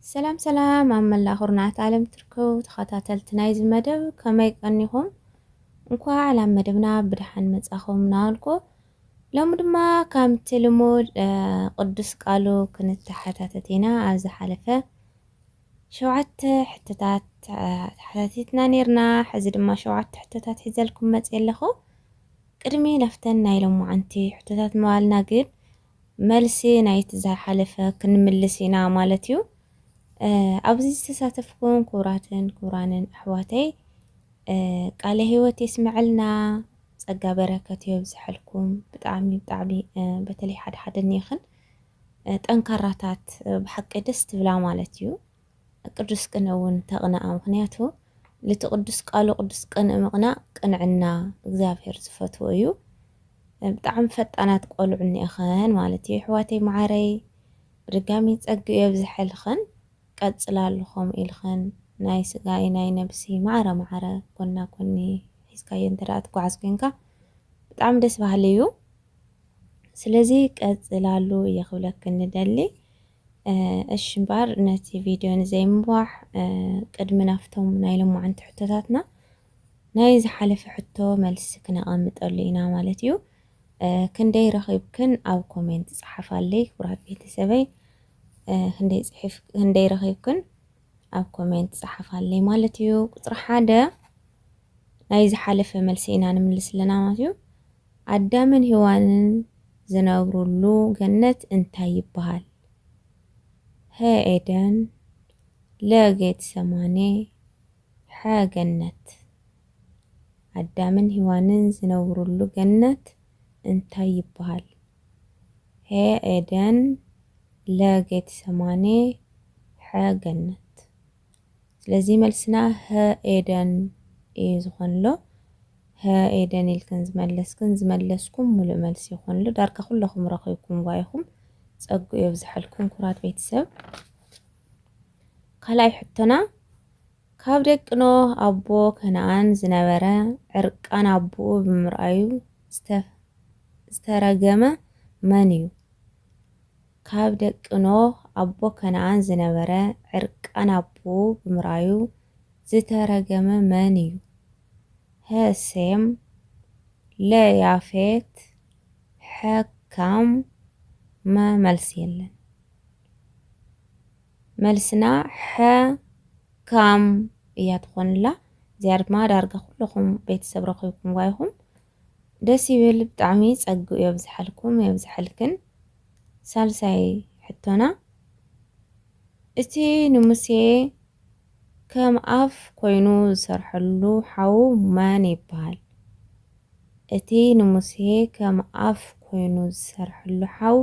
ሰላም ሰላም ኣብ መላእ ኩርናዓት ዓለም ትርከቡ ተኸታተልቲ ናይዚ መደብ ከመይ ቀኒኹም እንኳዕ ናብ መደብና ብድሓን መጻኹም ናበልኩ ሎሚ ድማ ከምቲ ልሙድ ቅዱስ ቃሉ ክንተሓታተት ኢና ኣብ ዝሓለፈ ሸውዓተ ሕቶታት ተሓታቲትና ነርና ሕዚ ድማ ሸውዓተ ሕቶታት ሒዘልኩም መጽ ኣለኹ ቅድሚ ናፍተን ናይ ሎማዓንቲ ሕቶታት ምባልና ግን መልሲ ናይቲ ዝሓለፈ ክንምልስ ኢና ማለት እዩ። ኣብዚ ዝተሳተፍኩም ክቡራትን ክቡራንን ኣሕዋተይ ቃለ ህይወት የስመዐልና ጸጋ በረከት የብዝሐልኩም። ብጣዕሚ ብጣዕሚ በተለይ ሓደ ሓደ እኒእኽን ጠንካራታት ብሓቂ ደስ ትብላ ማለት እዩ። ቅዱስ ቅንእ እውን ተቕንኣ ምኽንያቱ ልቲ ቅዱስ ቃሉ ቅዱስ ቅንእ ምቕናእ ቅንዕና እግዚኣብሔር ዝፈትዎ እዩ ብጣዕሚ ፈጣናት ቆልዑ እኒኤኸን ማለት እዩ ኣሕዋተይ መዓረይ ብድጋሚ ጸግኡ የብዝሐልኸን ቀጽላሉ ከምኡ ኢልኸን ናይ ስጋ እዩ ናይ ነብሲ ማዕረ ማዕረ ጎና ጎኒ ሒዝካዮ እንተ ደኣ ትጓዓዝ ኮንካ ብጣዕሚ ደስ በሃሊ እዩ ስለዚ ቀጽላሉ እየ ክብለክን ንደሊ እሺ እምበኣር ነቲ ቪድዮ ንዘይምንባሕ ቅድሚ ናብቶም ናይ ሎማዓንቲ ሕቶታትና ናይ ዝሓለፈ ሕቶ መልሲ ክነቐምጠሉ ኢና ማለት እዩ። ክንደይ ረኺብክን ኣብ ኮሜንት ጸሓፋለይ ክቡራት ቤተሰበይ ክንደይ ጽሒፍ ክንደይ ረኺብክን ኣብ ኮሜንት ጸሓፋለይ ማለት እዩ። ቁጽሪ ሓደ ናይ ዝሓለፈ መልሲ ኢና ንምልስ ኣለና ማለት እዩ። ኣዳምን ሂዋንን ዝነብሩሉ ገነት እንታይ ይበሃል? ሀ ኤደን፣ ለ ጌትሰማኔ፣ ሐ ገነት። ኣዳምን ሂዋንን ዝነብሩሉ ገነት እንታይ ይበሃል? ሀ ኤደን፣ ለ ጌትሰማኔ፣ ሐ ገነት። ስለዚ መልስና ሀ ኤደን እዩ ዝኾንሎ ሀ ኤደን ኢልክን ዝመለስክን ዝመለስኩም ሙሉእ መልሲ ይኾንሉ ዳርጋ ኩለኹም ረኺብኩም ጓይኹም ጸጉ የብዝሐልኩም ኩራት ቤተሰብ ካልኣይ ሕቶና ካብ ደቂ ኖህ ኣቦ ከነኣን ዝነበረ ዕርቃን ኣቦኡ ብምርኣዩ ዝተረገመ መን እዩ? ካብ ደቂ ኖህ ኣቦ ከነኣን ዝነበረ ዕርቃን ኣቡኡ ብምርኣዩ ዝተረገመ መን እዩ? ሀ ሴም ለ ያፌት ሐ ካም መ መልሲ የለን መልስና ሐ ካም እያ ትኾንላ እዚኣ ድማ ዳርጋ ኩሉኹም ቤተሰብ ረኺብኩምዋ ኢኹም ደስ ይብል ብጣዕሚ ጸግኡ የብዝሓልኩም የብዝሓልክን ሳልሳይ ሕቶና እቲ ንሙሴ ከም ኣፍ ኮይኑ ዝሰርሐሉ ሓዉ መን ይብሃል እቲ ንሙሴ ከም ኣፍ ኮይኑ ዝሰርሐሉ ሓዉ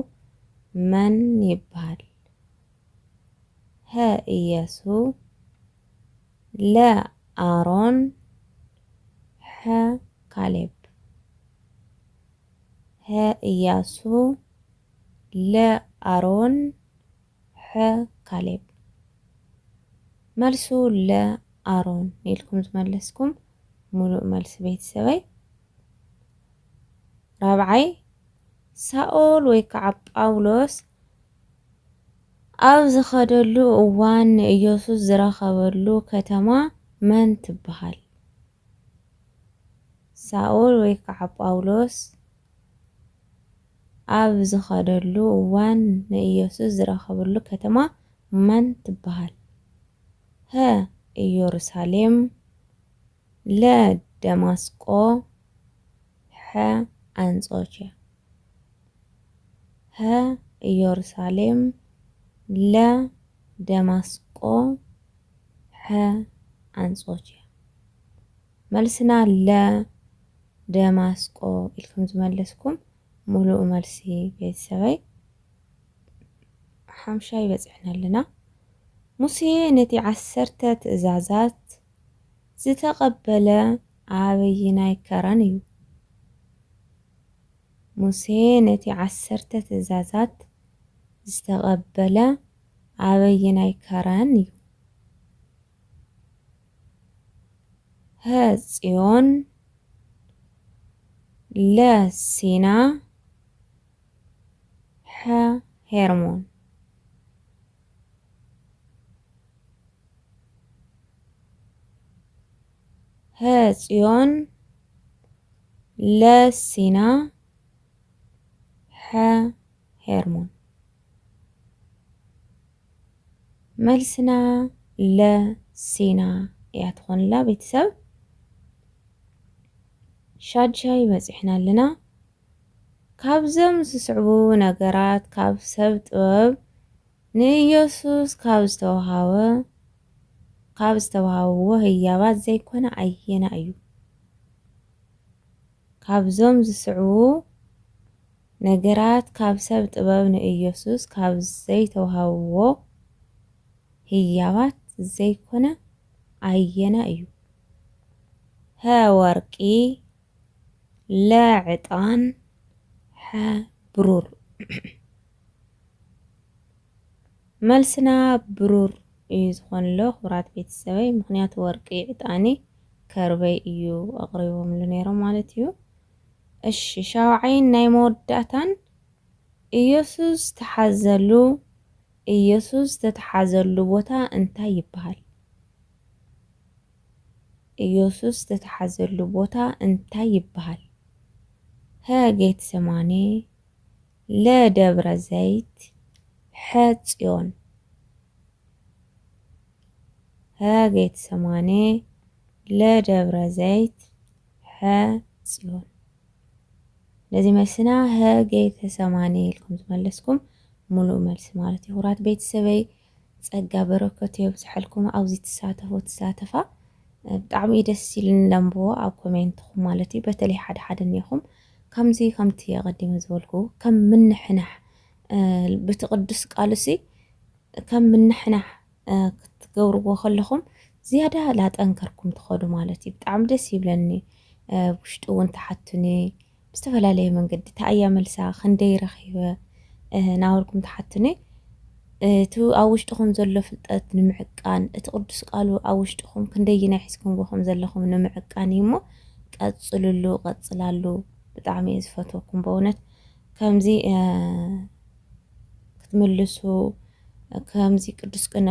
መን ይብሃል ሀ ኢያሱ ለ ኣሮን ሐ ካሌብ ሐ እያሱ ለ ኣሮን ሐ ካሌብ መልሱ ለ ኣሮን ኢልኩም ዝመለስኩም ሙሉእ መልሲ ቤተሰበይ ራብዓይ ሳኦል ወይ ከዓ ጳውሎስ ኣብ ዝኸደሉ እዋን ንኢየሱስ ዝረኸበሉ ከተማ መን ትበሃል? ሳኦል ወይ ከዓ ጳውሎስ ኣብ ዝኸደሉ እዋን ንኢየሱስ ዝረኸበሉ ከተማ መን ትበሃል? ሀ ኢየሩሳሌም ለ ደማስቆ ሐ ኣንጾኪያ ሀ ኢዮርሳሌም ለ ደማስቆ ሐ ኣንጾኪያ መልስና ለ ደማስቆ ኢልኩም ዝመለስኩም ሙሉእ መልሲ ቤተሰበይ ሓምሻይ በጺሕና ኣለና። ሙሴ ነቲ ዓሰርተ ትእዛዛት ዝተቐበለ ኣበይናይ ከረን እዩ? ሙሴ ነቲ ዓሰርተ ትእዛዛት ዝተቐበለ ኣበየናይ ከረን እዩ? ሀ ጽዮን ለ ሲና ሐ ሄርሞን ሀ ፅዮን ለ ሲና ሐ ሄርሞን መልስና ለ ሲና እያ ትኾንላ ቤተሰብ ሻድሻይ በፂሕና ኣለና ካብዞም ዝስዕቡ ነገራት ካብ ሰብ ጥበብ ንኢየሱስ ካብ ዝተውሃበ ካብ ዝተውሃብዎ ህያባት ዘይኮነ ኣየናይ እዩ? ካብዞም ዝስዕቡ ነገራት ካብ ሰብ ጥበብ ንኢየሱስ ካብ ዘይተውሃብዎ ህያባት ዘይኮነ ኣየናይ እዩ? ሀ ወርቂ ለ ዕጣን ሐ ብሩር። መልስና ብሩር እዩ ዝኾንሎ ክብራት ቤተሰበይ ምክንያቱ ወርቂ ዕጣኒ ከርበይ እዩ ኣቕሪቦምሉ ነይሮም ማለት እዩ እሺ ሻውዓይን ናይ መወዳእታን ኢየሱስ ተሓዘሉ ኢየሱስ ተተሓዘሉ ቦታ እንታይ ይበሃል ኢየሱስ ተተሓዘሉ ቦታ እንታይ ይበሃል ሀ ጌትሰማኔ ለ ደብረ ዘይት ሐ ፅዮን ሐ ጌትሰማኔ ለ ደብረ ዘይት ሐ ፅዮን ነዚ መልስና ሐ ጌተሰማኔ ኢልኩም ዝመለስኩም ሙሉእ መልሲ ማለት እዩ። ክቡራት ቤተሰበይ ጸጋ በረከቱ የብዝሐልኩም ኣብዚ ትሳተፉ ትሳተፋ ብጣዕሚ እዩ ደስ ኢሉኒ ለንብቦ ኣብ ኮሜንትኹም ማለት እዩ በተለይ ሓደ ሓደ እኒኹም ከምዚ ከምቲ ኣቐዲመ ዝበልኩ ከም ምንሕናሕ በቲ ቅዱስ ቃሉሲ ከም ምንሕናሕ ክትገብርዎ ከለኹም ዝያዳ ላጠንከርኩም ትኸዱ ማለት እዩ ብጣዕሚ ደስ ይብለኒ ውሽጢ እውን ተሓቱኒ ብዝተፈላለየ መንገዲ ታእያ መልሳ ክንደይ ረኺበ ናበልኩም ትሓትኒ እቲ ኣብ ውሽጥኹም ዘሎ ፍልጠት ንምዕቃን እቲ ቅዱስ ቃሉ ኣብ ውሽጥኹም ክንደይናይ ሒዝኩምዎ ከም ዘለኹም ንምዕቃን እዩ እሞ ቀፅልሉ ቀፅላሉ ብጣዕሚ እየ ዝፈትወኩም በእውነት ከምዚ ክትምልሱ ከምዚ ቅዱስ ቅነ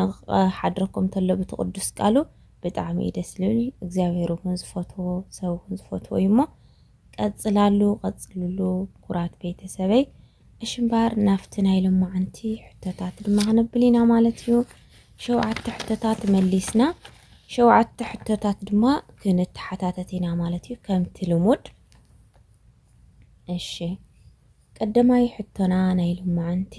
ሓድረኩም ተሎ ብቲ ቅዱስ ቃሉ ብጣዕሚ እዩ ደስ ዝብል እግዚኣብሔር እውን ዝፈትዎ ሰብ እውን ዝፈትዎ እዩ እሞ ቀጽላሉ ቀጽልሉ ኩራት ቤተሰበይ። እሺ እምበኣር ናብቲ ናይ ሎማዓንቲ ሕቶታት ድማ ክንብል ኢና ማለት እዩ። ሸውዓተ ሕቶታት መሊስና ሸውዓተ ሕቶታት ድማ ክንተሓታተት ኢና ማለት እዩ ከምቲ ልሙድ። እሺ ቀዳማይ ሕቶና ናይ ሎማዓንቲ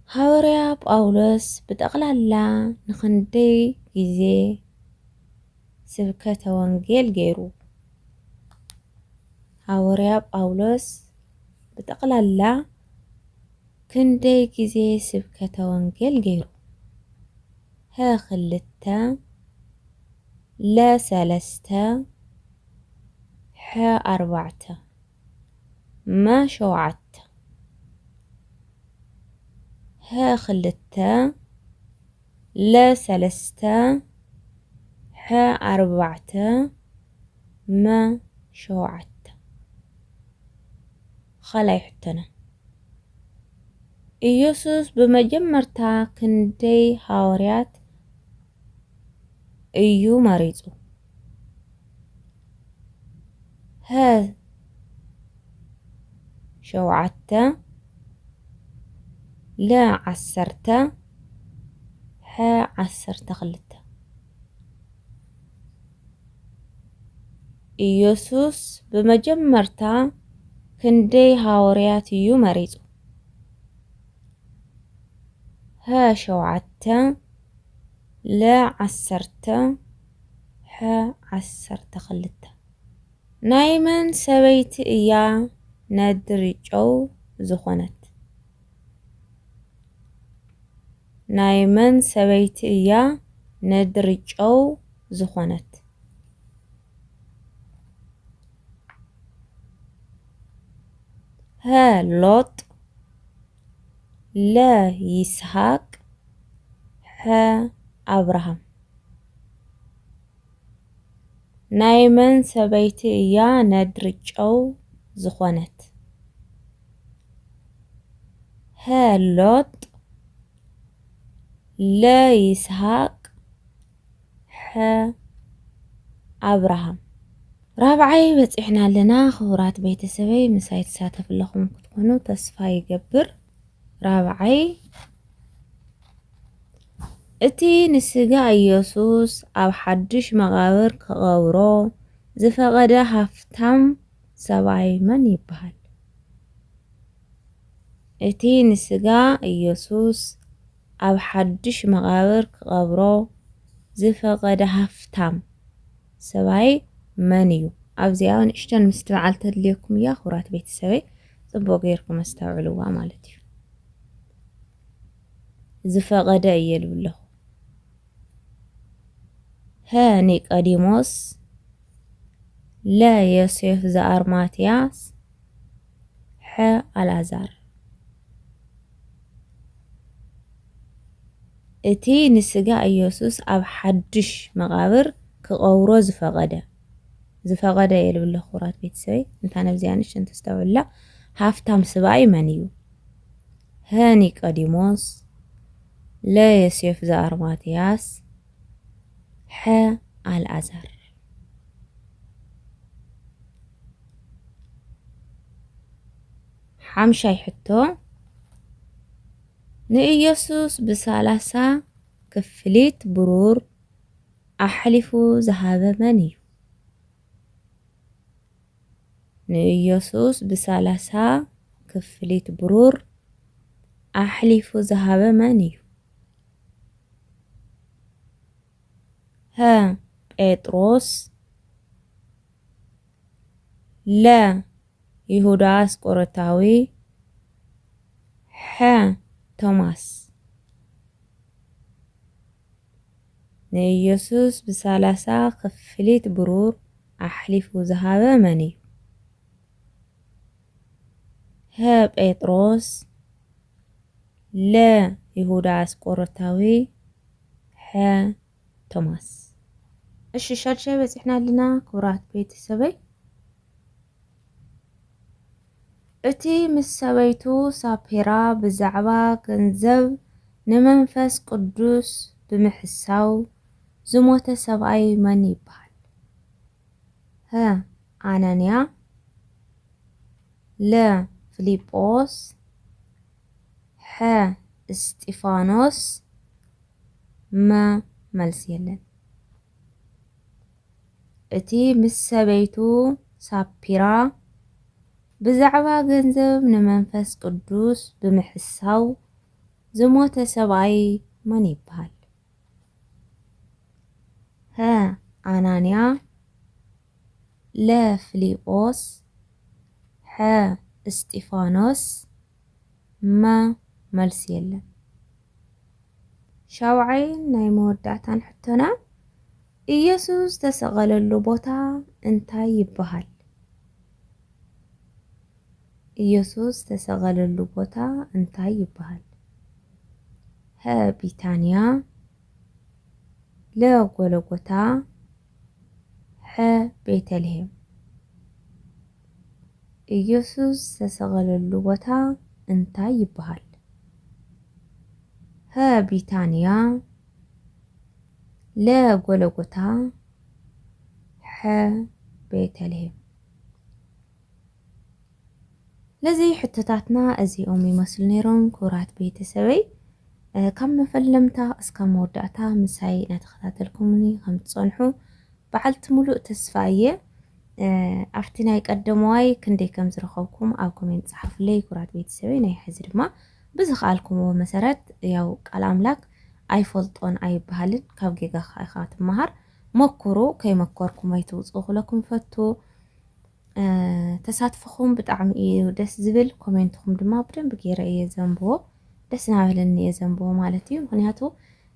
ሃወርያ ጳውሎስ ብጠቕላላ ንኽንደይ ግዜ ስብከተ ወንጌል ገይሩ። ሃወርያ ጳውሎስ ብጠቕላላ ክንደይ ግዜ ስብከተ ወንጌል ገይሩ? ሀ ክልተ ለ ሰለስተ ሐ ኣርባዕተ። መ ሸውዓተ ሀ ክልተ ለ ሰለስተ ሐ ኣርባዕተ መ ሸውዓተ ኻልኣይ ሕቶና ኢየሱስ ብመጀመርታ ክንደይ ሃዋርያት እዩ መሪጹ? ሀ ሸውዓተ ለ ዓሰርተ ሐ ዓሰርተ ክልተ ኢየሱስ ብመጀመርታ ክንደይ ሃወርያት እዩ መሪጹ? ሀ ሸውዓተ ለ ዓሰርተ ሐ ዓሰርተ ክልተ። ናይ መን ሰበይቲ እያ ነድሪ ጨው ዝኾነት? ናይ መን ሰበይቲ እያ ነድሪ ጨው ዝኾነት? ሐ ሎጥ። ለ ይስሃቅ ሐ ኣብርሃም ናይ መን ሰበይቲ እያ ነድሪ ጨው ዝኾነት ሐ ሎጥ ለ ይስሃቅ ኣብርሃም ራብዓይ በጺሕና ኣለና ክቡራት ቤተሰበይ ምሳይ ትሳተፍ ኣለኹም ክትኮኑ ተስፋ ይገብር ራብዓይ እቲ ንስጋ ኢየሱስ ኣብ ሓድሽ መቓብር ክቐብሮ ዝፈቐደ ሃፍታም ሰብኣይ መን ይበሃል እቲ ንስጋ ኢየሱስ ኣብ ሓዱሽ መቓብር ክቐብሮ ዝፈቐደ ሃፍታም ሰብኣይ መን እዩ? ኣብዚኣ ንእሽቶን ምስትብዓል ተድልየኩም እያ ክብራት ቤተሰበይ ጽቡቕ ጌርኩም ኣስተውዕልዋ ማለት እዩ። ዝፈቐደ እየ ልብል ኣለኹ። ሀ ኒቀዲሞስ ለ ዮሴፍ ዘኣርማትያስ ሐ ኣልኣዛር እቲ ንስጋ እየሱስ ኣብ ሓዱሽ መቃብር ክቀብሮ ዝፈቀደ ዝፈቀደ እየ ልብለ ክቡራት ቤተሰበይ እንታ ነብዚኣ ንሽን ተስተውዕላ ሃፍታም ስባኣይ መን እዩ ሀ ኒቀዲሞስ ለ የሴፍ ዘኣርማትያስ ሐ ኣልኣዛር ሓምሻይ ሕቶ ንኢየሱስ ብሳላሳ ክፍሊት ብሩር ኣሕሊፉ ዝሃበ መን እዩ? ንኢየሱስ ብሳላሳ ክፍሊት ብሩር ኣሕሊፉ ዝሃበ መን እዩ? ሀ ጴጥሮስ ለ ይሁዳ አስቆሮታዊ ሐ ቶማስ ንኢየሱስ ብሳላሳ ክፍሊት ብሩር ኣሕሊፉ ዝሃበ መን እዩ? ሀ ጴጥሮስ ለ ይሁዳ ኣስቆሮታዊ ሐ ቶማስ እሺ ሻድሻይ በፂሕና ኣለና ክቡራት ቤተሰበይ እቲ ምስ ሰበይቱ ሳፔራ ብዛዕባ ገንዘብ ንመንፈስ ቅዱስ ብምሕሳው ዝሞተ ሰብኣይ መን ይበሃል? ህ ኣናንያ ል ፍሊጶስ ሐ እስጢፋኖስ መ መልሲ የለን እቲ ምስ ሰበይቱ ሳፒራ ብዛዕባ ገንዘብ ንመንፈስ ቅዱስ ብምሕሳው ዝሞተ ሰብኣይ መን ይብሃል? ሀ ኣናንያ ለ ፍሊጶስ ሐ እስጢፋኖስ መ መልሲ የለን። ሻውዓይን ናይ መወዳእታን ሕቶና ኢየሱስ ዝተሰቐለሉ ቦታ እንታይ ይበሃል? ኢየሱስ ዝተሰቐለሉ ቦታ እንታይ ይበሃል? ሀ ቢታንያ ለ ጎሎጎታ ሐ ቤተልሔም ኢየሱስ ዝተሰቐለሉ ቦታ እንታይ ይበሃል? ሀ ቢታንያ ለ ጎሎጎታ ሐ ቤተልሔም ስለዚ ሕቶታትና እዚኦም ይመስሉ ነይሮም ክቡራት ቤተሰበይ ካብ መፈለምታ እስካብ መወዳእታ ምሳይ እናተኸታተልኩምኒ ከም ትፀንሑ በዓልቲ ሙሉእ ተስፋ እየ ኣብቲ ናይ ቀደመዋይ ክንደይ ከም ዝረኸብኩም ኣብ ኮሜንት ፀሓፉለይ ክቡራት ቤተሰበይ ናይ ሕዚ ድማ ብዝኸኣልኩምዎ መሰረት ያው ቃል ኣምላክ ኣይፈልጦን ኣይበሃልን ካብ ጌጋኻ ኢኻ ትመሃር መኩሩ ከይመኮርኩም ኣይትውፅኡ ክብለኩም ፈቱ ተሳትፎኹም ብጣዕሚ እዩ ደስ ዝብል ኮሜንትኹም ድማ ብደንቢ ገይረ እየ ዘንብቦ ደስ እናበለኒ እየ ዘንብቦ ማለት እዩ ምክንያቱ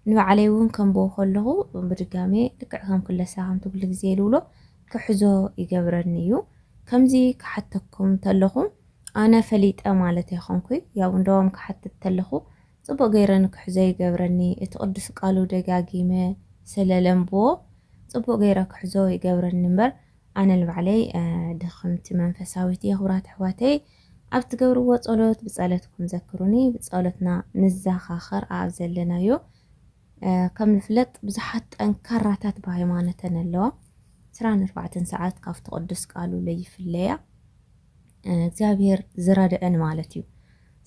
ንባዕለይ እውን ከንብቦ ከለኹ ብድጋሜ ልክዕ ከም ክለሳ ከምቲ ኩሉ ግዜ ልብሎ ክሕዞ ይገብረኒ እዩ ከምዚ ክሓተኩም እንተለኹ ኣነ ፈሊጠ ማለት ኣይኮንኩይ ያው እንደውም ክሓትት ተለኹ ጽቡቅ ገይረ ንክሕዞ ይገብረኒ እቲ ቅዱስ ቃሉ ደጋጊመ ስለ ለንብቦ ጽቡቅ ገይረ ክሕዞ ይገብረኒ እምበር ኣነ ንባዕለይ ድኽምቲ መንፈሳዊት እየ ክብራት ኣሕዋተይ ኣብ ትገብርዎ ጸሎት ብጸለትኩም ዘክሩኒ ብጸሎትና ንዛኻኸር ኣብ ዘለናዮ ከም ንፍለጥ ብዙሓት ጠንካራታት ብሃይማኖተን ኣለዋ ስራን ኣርባዕተን ሰዓት ካብቲ ቅዱስ ቃሉ ለይፍለያ እግዚኣብሔር ዝረድዐን ማለት እዩ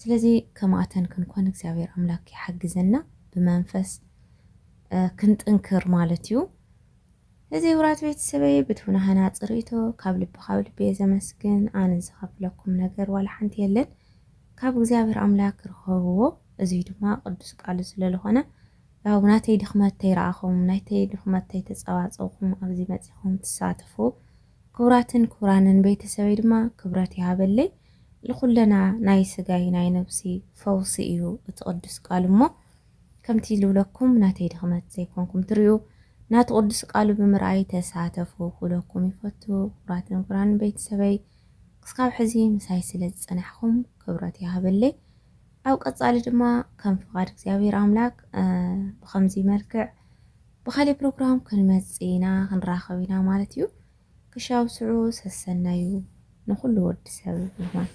ስለዚ ከምኣተን ክንኮን እግዚኣብሔር ኣምላክ ይሓግዘና ብመንፈስ ክንጥንክር ማለት እዩ እዚ ዉራት ቤተሰበይ ብቱና ሃናጺ ሪኢቶ ካብ ልቢ ካብ ልቢ እየ ዘመስግን ኣነ ዝከፍለኩም ነገር ዋላ ሓንቲ የለን ካብ እግዚኣብሔር ኣምላክ ርኸብዎ እዙይ ድማ ቅዱስ ቃሉ ስለልኾነ ያው ናተይ ድክመት ተይረኣኹም ናይተይ ድክመት ተይተጸባጸብኹም ኣብዚ መጺኹም ትሳተፉ ክቡራትን ክቡራንን ቤተሰበይ ድማ ክብረት ይሃበለይ ልኩለና ናይ ስጋይ ናይ ነብስይ ፈውሲ እዩ እቲ ቅዱስ ቃሉ እሞ ከምቲ ልብለኩም ናተይ ድኽመት ዘይኮንኩም ትሪኡ ናቱ ቅዱስ ቃሉ ብምርኣይ ተሳተፉ ክብለኩም ይፈቱ ክብራት ንክብራን ቤተሰበይ ክስካብ ሕዚ ምሳይ ስለ ዝጸናሕኩም ክብረት ይሃበለይ ኣብ ቀጻሊ ድማ ከም ፍቃድ እግዚኣብሔር ኣምላክ ብከምዚ መልክዕ ብካሊእ ፕሮግራም ክንመጽእ ኢና ክንራከብ ኢና ማለት እዩ ክሻብ ስዑ ሰሰናዩ ንኩሉ ወዲ ሰብ ይኹን።